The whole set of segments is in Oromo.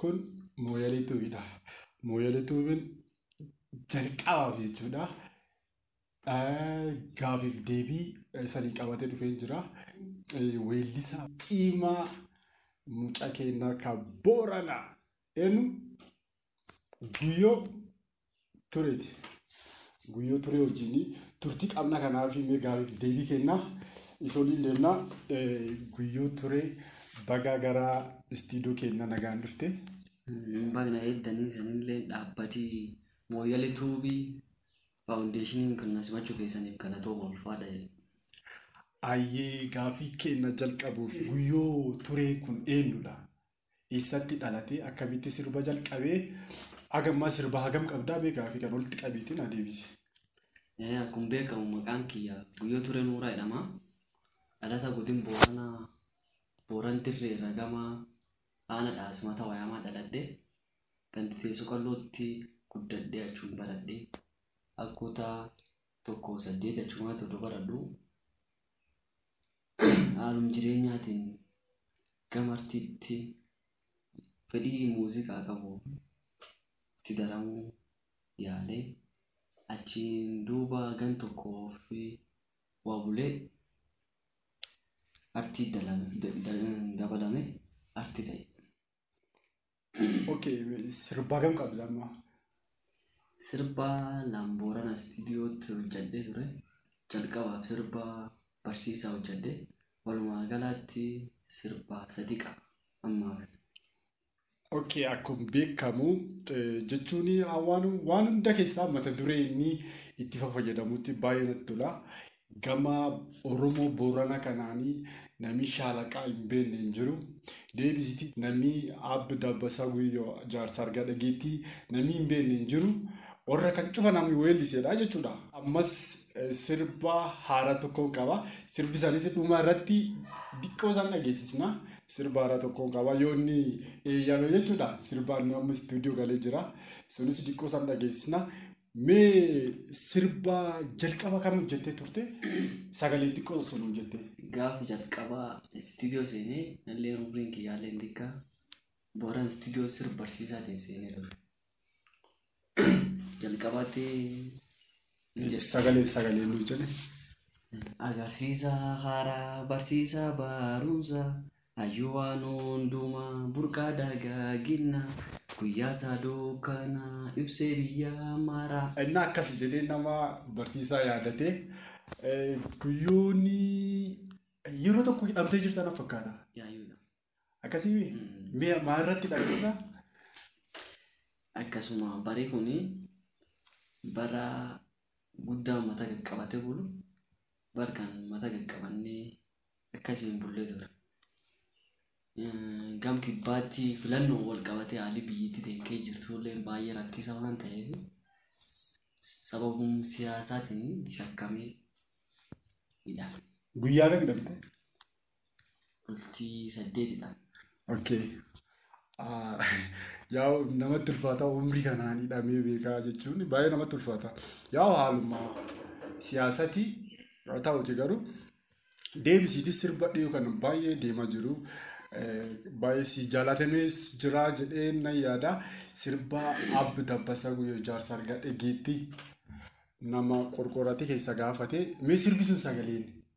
Kun mooyalee tuubiidha. Mooyalee tuubiin jalqabaaf jechuudha. Gaafiif deebii sanii qabatee dhufee jira. Weellisaa cimaa mucaa keennaa kan Booranaa eenyu? guyyoo tureeti. Guyyoo turee wajjin turtii qabna kanaaf mee gaafii deebii kenna. Isoliin deemna guyyoo turee bagaa gara istiidoo kenna nagaan dhufte. Bagna eeddanii sanillee dhaabbatii mooyyali tuubii faawundeeshiniin kan nasimachuu keessaniif galatooma ulfaadha jedhe. Ayyee gaafii kenna jalqabuuf guyyoo turee kun eenyudha? Eessatti dhalatee? Akkamitti sirba jalqabee? Agammaa sirba hagam qabdaa mee gaafii kan walitti qabiitiin adeemsi. Ee, Akkuma beekamu maqaan kiyya Guyyoo Turee Nuuraa jedhama. Dhalata godin Booranaa Booran Dirree irra gama aana dhaasmata wayamaa dhaladhe. Gandi teessoo qallootti guddadhe achuun baradhe. Akkuutaa tokko saddeet achumaa todoo baradhu. haalum jireenyaatiin gama artiitti fedhii muuziqaa qabu itti daramuu yaalee achiin duuba gan tokko fi waa bulee artii dabalame artii ta'e. Okay, sirbaa kam qabda amma? Sirba Laamboorana istiidiyootti hojjedhee ture. Jalqabaaf sirba barsiisaa hojjedhe. Walumaa galaatti sirba sadii qaba ammaaf. Okay, akkuma beekamu eh, jechuun waan waan hunda keessaa mata duree inni itti fayyadamutti baay'ee natti tola. Gama oromoo boorana kanaani namii shaalaqaa hin beenne hin jiru. Deebisiti namii Aab Dabbasaa Guyyoo jaarsa argaa dhageettii namii hin beenne hin jiru. Warra kan cufa namni weelliseedha jechuudha. Ammas sirba haaraa tokkoon qaba. Sirbi isaaniis dhuma irratti diqqoo isaan dhageessisna. Sirba haaraa tokkoon qaba. Yoo inni eeyyame jechuudha. Sirbaan nu amma istuudiyoo galee jira. Sunis diqqoo isaan dhageessisna. Mee sirba jalqaba kam hojjettee turte? Sagalee xiqqoo osoo nuu jettee. Gaafa jalqabaa istiidiyoo seenee nalleen umriin kiyyaalleen xiqqaa booran istiidiyoo sirba barsiisaatiin seenee ture. Jalqabaatti hin jedhe. Sagalee sagalee nuu jedhe. Agarsiisa haaraa barsiisaa barumsa Hayyuu waan hundumaa burqaa dagaaginna guyyaa isaa dukkana ibsee biyyaa maaraa. Inni akkas jedhee nama barsiisaa yaadate guyyoonni yeroo tokko hidhamtee jirta na fakkaata. Yaayyuudha. Akkasii mi? Mi'a maa irratti hidhamteessa? Akkasuma barii kun bara guddaa uummata qaqqabate bulu bar kan mata gad qabannee akkasiin bullee ture. Gam kibbaatti filannoo wal qabatee haalli biyyittii teekkee jirtullee baay'ee rakkisa waan ta'eef sababuma siyaasaatiin shakkamee hidhame. Guyyaa kam hidhamte? bultii saddeetidha. Okay. Ah, Yaa namatti ulfaata umrii kanaan hidhamee beekaa jechuun baay'ee namatti ulfaata. Yaa haaluma siyaasati haa ta'uti garuu deebisiiti sirba dhiyoo kana baay'ee deemaa jiru. Eh, Baay'ee si jaalatamees jira jedhee nan yaada. Sirba Abbi Dabbasaa Guyyoo Ijaarsa Argaa Dhageetti nama qorqoorratti keessa gaafate. Mee sirbi sun sagaleen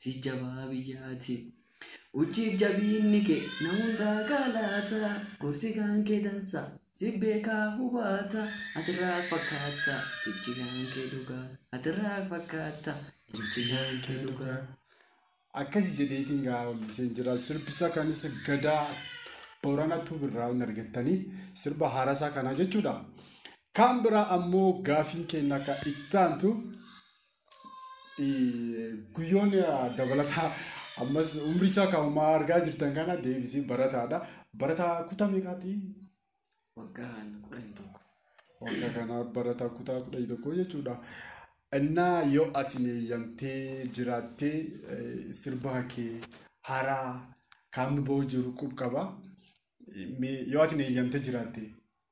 si jabaa biyyaati. Uchiif jabiinni kee na hundaa gaalaata gorsi kaan kee dansa si beekaa hubaata atirraa fakkaata jechi kaan kee dhugaa atirraa fakkaata jechi kaan kee dhugaa. Akkasi jedheetiin gaa olliseen jira sirbisa kanis gadaa borana tuub irraa hin argattanii sirba haarasaa kanaa jechuudha. Kaan biraa ammoo gaafiin keenya akka ittaantu guyyoon dabalataa ammas umrii isaa kan ammaa argaa jirtan kana deebisee barataadha. Barataa kutaa meeqaati? waggaan kudhan tokko. Waggaa kana barataa kutaa kudhan tokko jechuudha. Innaa yoo ati eeyyamtee jiraattee eh, sirba kee haaraa kaamni ba'uu jiru qub qaba. Eh, mee- Yoo ati eeyyamtee jiraattee.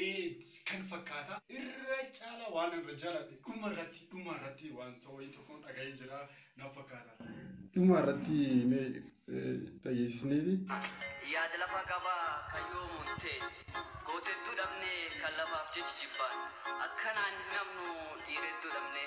Eeedsi kan fakkaata. Irra caala waan irra jaladhe dhuma irratti dhuma irratti waan ta'oyi tokkon dhaga'een jira na fakkaata. Dhuma irratti mee dhageesisneeti. Yaad lafa qaba kan yoomuun tee Goota hedduu dhabnee kan lafaaf jechi jibbaan Akka naan hin hafnu dhiira hedduu dhabnee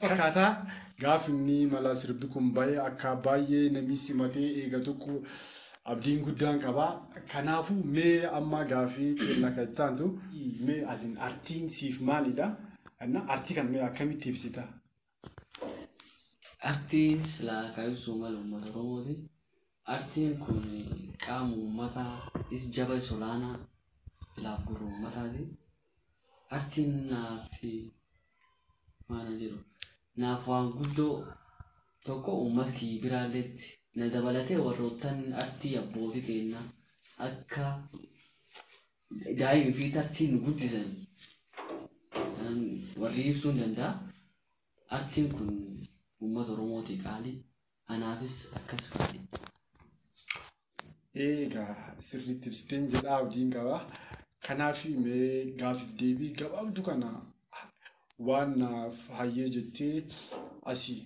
fakata gaf inni mala sirbi kun baye akka baye nami simate egatuku abdin gudan qaba kanafu me amma gafi kenna ka ittantu me atin artin sif malidha anna arti kan me akkamiti ibsita Artiin silaa kan ibsuu malu uummata Oromooti. Artiin kun qaama uummataa is jaba is olaanaa ilaaf gurra uummataati. Artiin naafi maana jedhu naaf waan guddoo tokko uummat kiyyi biraalleetti na dabalatee warroottan artii abbooti teenna akka daa'imi fi tartiin nu guddisan warri ibsuun danda'a. Artiin kun uummata Oromootii qaalii Anaafis akkas godhe. Eegaa sirriitti ibsiteen jedhaa abdiin qaba. Kanaaf mee gaaffiif deebii gabaabdu kana waan naaf hayyee jettee asii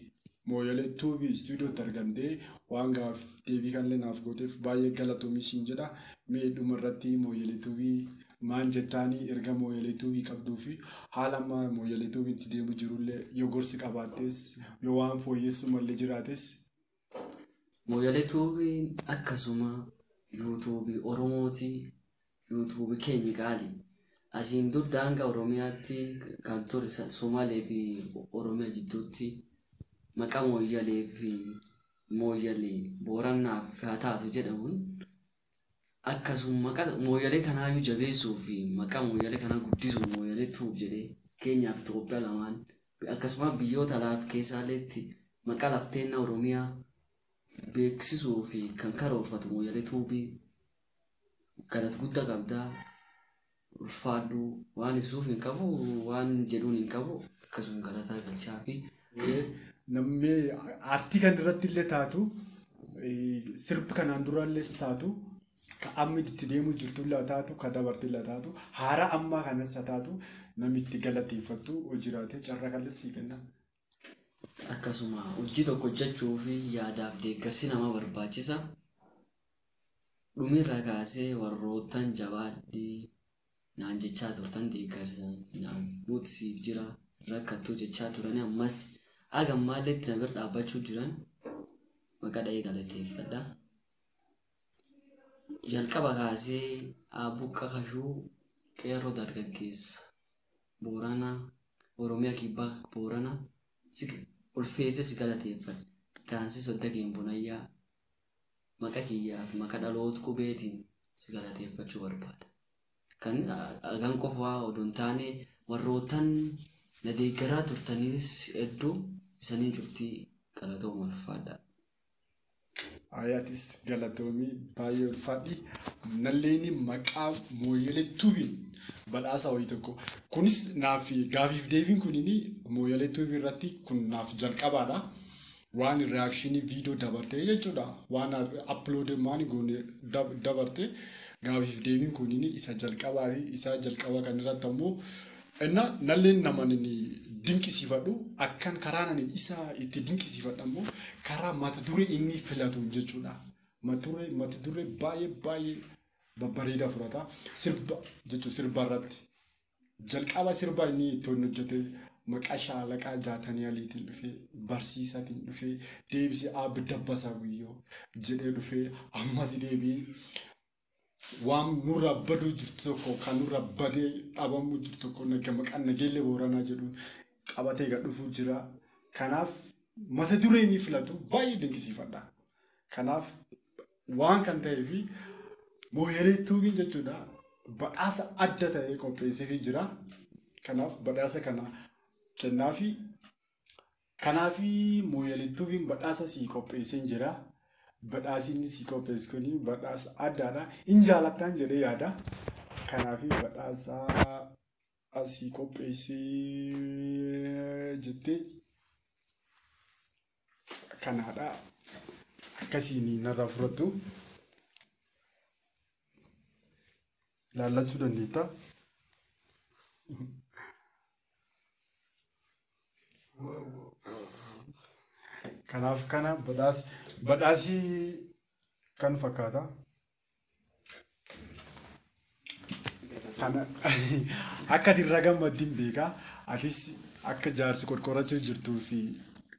mooyalee tuubii istuudiyootti argamtee waan gaaf deebii kanallee naaf gooteef baay'ee galatoomii siin jedha. Mee dhuma irratti mooyalee tuubii maan jettaanii erga mooyalee tuubii qabduu fi haala amma mooyalee tuubii itti deemu jirullee yoo gorsi qabaattees Yoo waan fooyyessuu malle jiraates. Moyale tube akkasuma YouTube oromooti YouTube keenya qaali asiin dur daanga oromiyaatti kan ture somaalee fi oromiya jidduutti maqa mooyyalee fi mooyyale boorannaaf haa taatu jedhamuun akkasum maqa mooyyalee kanaayyuu jabeessuu fi maqaa mooyyalee kanaa guddisuuf mooyyalee tuub jedhee keenyaaf Itoophiyaa lamaan akkasumas biyyoota laaf keessaaleetti maqaa lafteenna Oromiyaa beeksisuu fi kan karoorfatu mooyyalee tuubii galat gudda qabdaa. ulfaadhu. Waan ibsuuf hin qabu waan jedhuun hin qabu akkasuma galataa galchaafi. Namni aartii kan irratti illee taatu sirbi kanaan dura illees taatu ka amma itti deemuu jirtu illee taatu ka dabarte illee taatu haaraa ammaa kanas haa taatu namni itti galateeffattu hojiraatee carraa kallee sii kenna. Akkasuma hojii tokko hojjechuuf yaadaaf deeggarsi nama barbaachisa. dhumirraa kaasee warroottan jabaadhi naan jechaa turtan deeggarsa naan nuti siif jira rakkattuu jechaa turani ammas haga ammaallee itti na bira dhaabbachuu jiran maqaa dha'ee galateeffadha. Jalqaba kaasee Aabbuqqa Kashuu qeerroo dargaggeessa Booranaa Oromiyaa Kibbaa Booranaa si ulfeessee si galateeffadha. Taansii Sodda Keen Bunayyaa maqa kiyyaa fi maqa dhaloot qubeetiin si galateeffachuu barbaada. Kan agan qofaa odoo hin taane warroottan na deeggaraa turtaniinis hedduu isanii cuftii galatooma ulfaadhaa. Ayi atis galatoomi baay'ee ulfaadhi. Nalleeni maqaa Mooyyalee Tuubiin badhaasa wayii tokko. Kunis naaf gaafiif deebiin kunini Mooyyalee Tuubii irratti kun naaf jalqabaadha. waan reaction video dabartee jechuudha waan upload waan goone dab- dabarte gaafiif deebiin kunini isa jalqabaa fi isa jalqaba kan irratti ammoo inna nalleen naman inni dinqisiifadhu akkan karaa nani isa itti dinqisiifadhu ammoo karaa mata duree inni filatu jechuudha mata duree mata duree baay'ee baay'ee babbareedaa fudhata sirba jechuun sirba irratti Jalqaba sirba inni itti inni hojjete maqaa shaalaqaa jaatanii aliitiin dhufee barsiisatiin dhufee deebisee aabbi dabbasaa guyyoo jedhee dhufee ammas deebii waan nurraa baduu jirtu tokko kan nurraa badee dhabamuu jirtu tokko naga maqaan nageellee booranaa jedhuun qabatee gad dhufuu jira. Kanaaf mata duree inni filatu baay'ee dinqisiifadha. Kanaaf waan kan ta'ee fi mooyalee tuubiin jechuudha badhaasa adda ta'ee qopheesseefii jira. Kanaaf badhaasa kana kennaa fi kanaaf mooyalee tuubiin badhaasa sii qopheesseen jira. Badhaasni sii qopheessu kun badhaasa addaadha. Hin jaalattaan jedhee yaada. Kanaaf badhaasa asii qopheessee jettee kanaadha akkasiin narraa fudhattu ilaallachuu dandeetta. Kanaaf kana badhaas badhaasii kan fakkaata. Kana akka ati irra gammaddi hin beeka. Atis akka jaarsi qorqorachuu jirtuu fi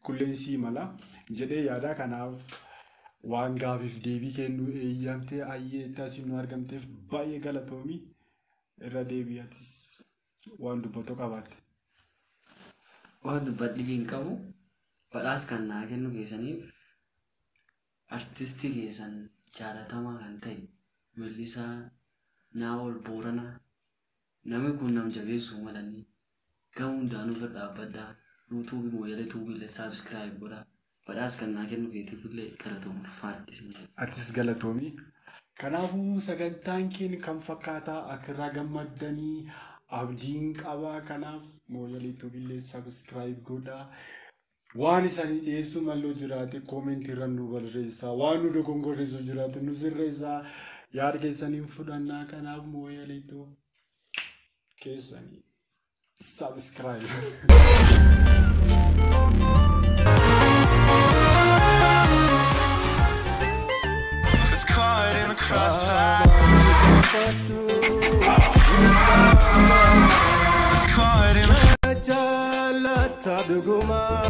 kulleen sii mala jedhee yaada kanaaf waan gaafiif deebii kennuu eeyyamtee ayyee itti asiin nu argamteef baay'ee galatoomi irra deebii atis waan dubbattu qabaatte. Waan dubbadhiif hin qabu. Badhaas kan naa kennu keessaniif Artisti keessan jaalatamaa kan ta'e weellisaa Naa'ol Booranaa nami kun nam jabeessuu malanii gama hundaan irra dhaabbadhaa YouTube Mooyyalee Tube illee subscribe godhaa badhaas kan naa kennu keetiif illee galatoom ulfaadhu isin jedha. Atis galatoomi. Kanaafuu sagantaan keen kan fakkaataa akka irraa gammaddanii abdiin qabaa kanaaf mooyyalee tubillee subscribe godhaa Waan isanii dhiyeessuu malloo jiraate koomentii irra nu barreessaa. Waan nu dogongorreessu jiraate nu sirreessaa. Yaada keessaniin fudhannaa kanaaf mooyaleetu keessanii. Subscribe. It's caught in the crossfire. It's caught in the Ta dhuguma.